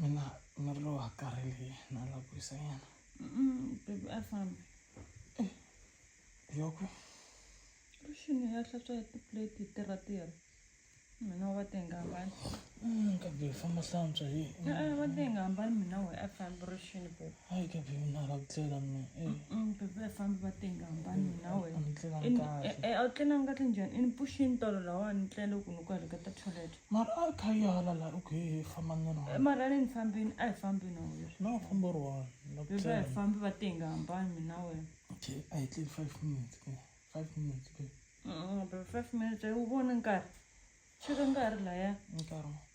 mina miri lowu wa karhele na la ku wisanyana bebi a fambi yoko rixini ya hlantswa hi tiplate hi tirha tirha mina wa te nga hambani kambe hi famba hlantswa hi e-e wa te nga hambani mina we a fambi rixini bebi a yi ka be mina ra ku tlela mina bebe ya fambi va tenga hambani mina wena ni tlelanga kahle e a wu tlelanga kahle njhani ini puxini tolo lawani ni tlele ku ni ku heleka ta toilet mara a kha yi hala la okay hi famba ni ri mara ni fambini a hi fambini a wena na famba ri one la ku bebe hi fambi va tenga hambani mina wena okay a hi tleli 5 minutes ke 5 minutes ke bebe 5 minutes ayi wu vona nkarhi xi ri nkarhi laya nkarhi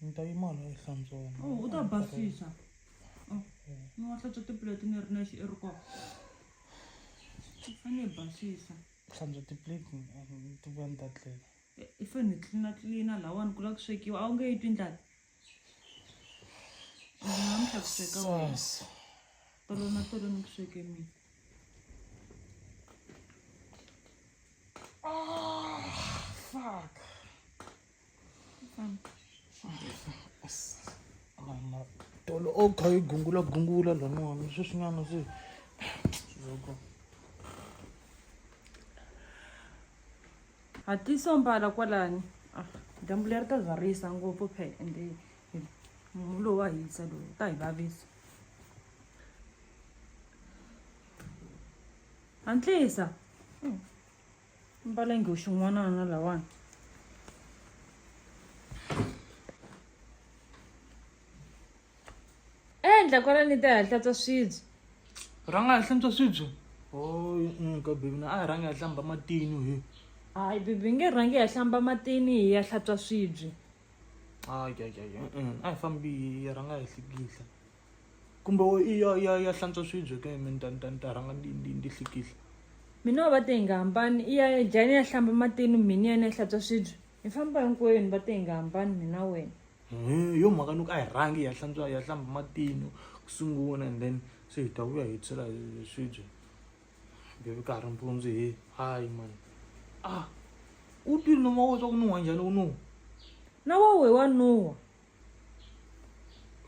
Ni ta yima la ehlantsweni. Oh, u ta basisa. Oh, ni wa hlantswa tiplate ni ri nexe i ri kona. A ni basisa. Hlantswa tiplate ni ti vuya ni ta tlela. Eh, I fanele ni tlilina tlilina lawani ku lava ku swekiwa a wu nge yi twi ndlala. Namuntlha ku sweka wena. Sasa. Tolo na tolo ni ku sweke mina. Ah, fuck. tolo o kha yi gungula gungula laniwani sweswinyana se loko hatlisa mbala kwalani ah, dyambu leri ta zwarisa ngopfu phe ende munhu lowu wa hisa lowu ta hi vavisa hantlisa hmm. mbala nghoxi n'wanana lawani endla kwala ni ta hatlatsa swibye rhanga ha hlantswa swibye ka bebi na a hi rhangi ha hlamba matini hi hayi bebi nge rhangi ya hlamba matini hi ya hlantswa swibye a hi fambi rhanga hi hlikihla kumbe wo i ya ya ya hlantswa swibye ke mi ni ta ni ta ni ta rhanga ndi ndi ndi hlikihla mina wa va te hi nga hambani i ya ya jani ya hlamba matini mina yena ya hlantswa swibye hi famba hinkwenu va te hi nga hambani mina wena hi yo mhaka ni ku a hi rhangi ya hlantswa ya hlamba matini ku sungula and then se hi ta vuya hi tshela swibye bebi ka ha ri mpundzu he hayi mani a u twile noma wo swa ku nuhwa njhani u nuhwa na wa we wa nuhwa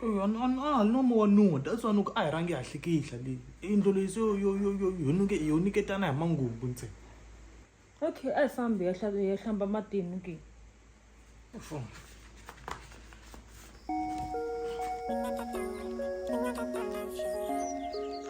a ni a ni no moya ni wo dya that's why ni ku a hi rhangi hi hatleke hi hla leyi yindlo leyi se yo yo yo yo yo nuke yo niketana hi mangungu ntsena okay a hi fambi ya hla- ya hlamba matini ke Fona. Thank you.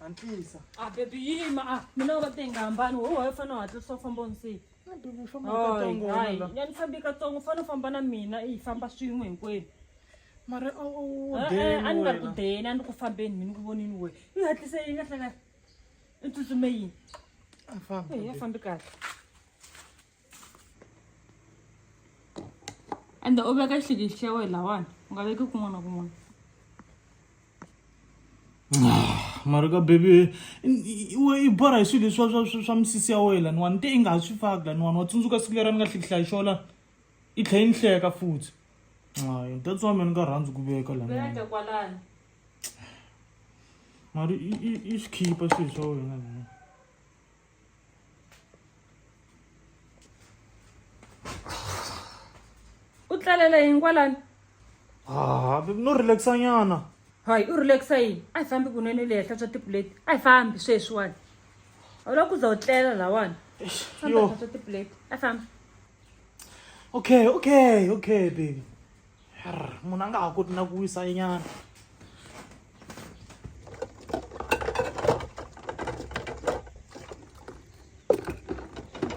Antlisa. A ah, baby yima a ah, mina u va te nga hambani wo wa fana u hatlisa u famba unsiyi. Baby famba ka tsongo wena. Ya ni fambi ka tsongo fana u famba na mina i famba swin'we hinkwenu. Mara o o o eh, deni. Eh, a ni nga ku deni a ni ku fambeni mina ku vonini we. I hatlise yi nga hlanga. I tsutsume yini? A famba. Eh, ya fambi kahle. ende u veka xihlikihi xa wena lawani u nga veki kun'wana na kun'wana mara ka baby we i borha hi swilo leswa swa swa misisi ya wena laniwa ni te i nga ha swi faki laniwani wa tsundzuka siku leri a ni nga hlikihlayi xo lani i tlhe yi ni hleka futhi ay that's why me ni nga rhandzi ku veka laniwani mara i swi khipa swilo swa wena laniwa u tlalela yini kwalani Ah, no relaxa nyana hayi u relaxa yini a hi fambi kunene u leha hlantswa tipuleti a hi fambi sweswiwani a wu lava ku za u tlela lawani fambi yo hlantswa tipuleti a hi fambi okay okay okay baby munhu a nga ha koti na ku wisa nyana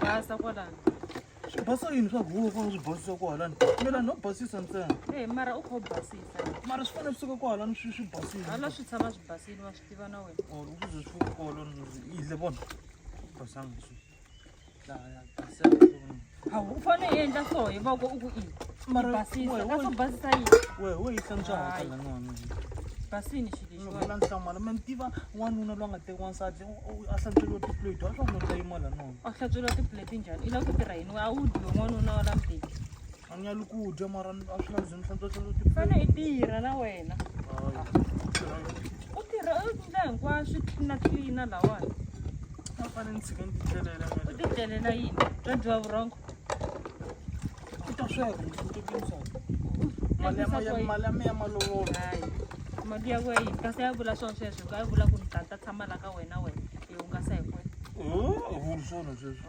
basa kwalani swi basa yini swa huwa ku swi basisa kwalani mina no basisa ntsena e mara u kho basisa mara swi fanele swi suka kwalani swi swi basile hala swi tshama swi basile wa swi tiva na wena or u ze swi kwalani yidle vona basanga swi a wu fanele u endla so hi voko u ku i basisa ka swo basisa yini wehe wo yisa ntswahatela nwana basini xilexiwala nhlamala ma ni tiva n'wanuna loyi a nga teki wansati a hlantsweriwa tiplate wa swa ku nota yimala nona a hlantsweriwa tiplate njhani i lava ku tirha yini we a wu dyiwe n'wanuna wa la mbeki a ni yali ku dya mara a swi lavi zini fanele u ti fane i tirha na wena u tirha u endla hinkwaswo na tlilina lawani a fane ni tshike ni titlelela u titlelela yini bya dyiwa vurhongo u ta sweka msutekisa mali ya mali ya mali ya malovolo hayi mali ya wena yini kasi ya vula swona sweswo ka ya vula ku ni tata tshama la ka wena wena hi hungasa hi kwena vuli swona sweswo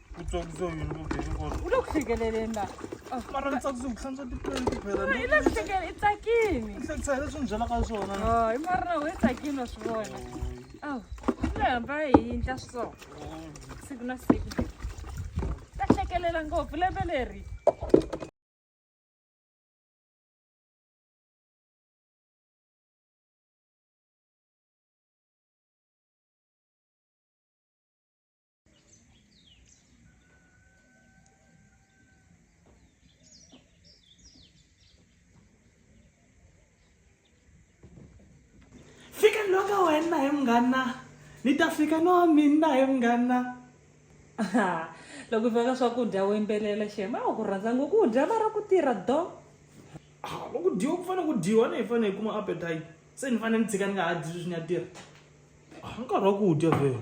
utswakisa yini kugenekolokufikelela ah. mara ni tsakisa ku hlantswa tipleni tibelalekufikelela i tsakini hlekisa leswi ni byelaka swona i mara na we tsakini wa swi vona aw le hamba hi yindla so siku na siku ta hlekelela ngopfu lembe leri fika ni loka wena he munghana ni ta fika no mina he munghana loko veka swakudya wo yimbelela xema a ku rhandza ngo ku dya va ra ku tirha do ah, loko dyiwa ku fanele ku dyiwa ni hi fanele hi kuma appetite se ni fanele ni tshika ni nga ha dyi sweswi ni ya tirha ah, nkarhi wa ku dya vhele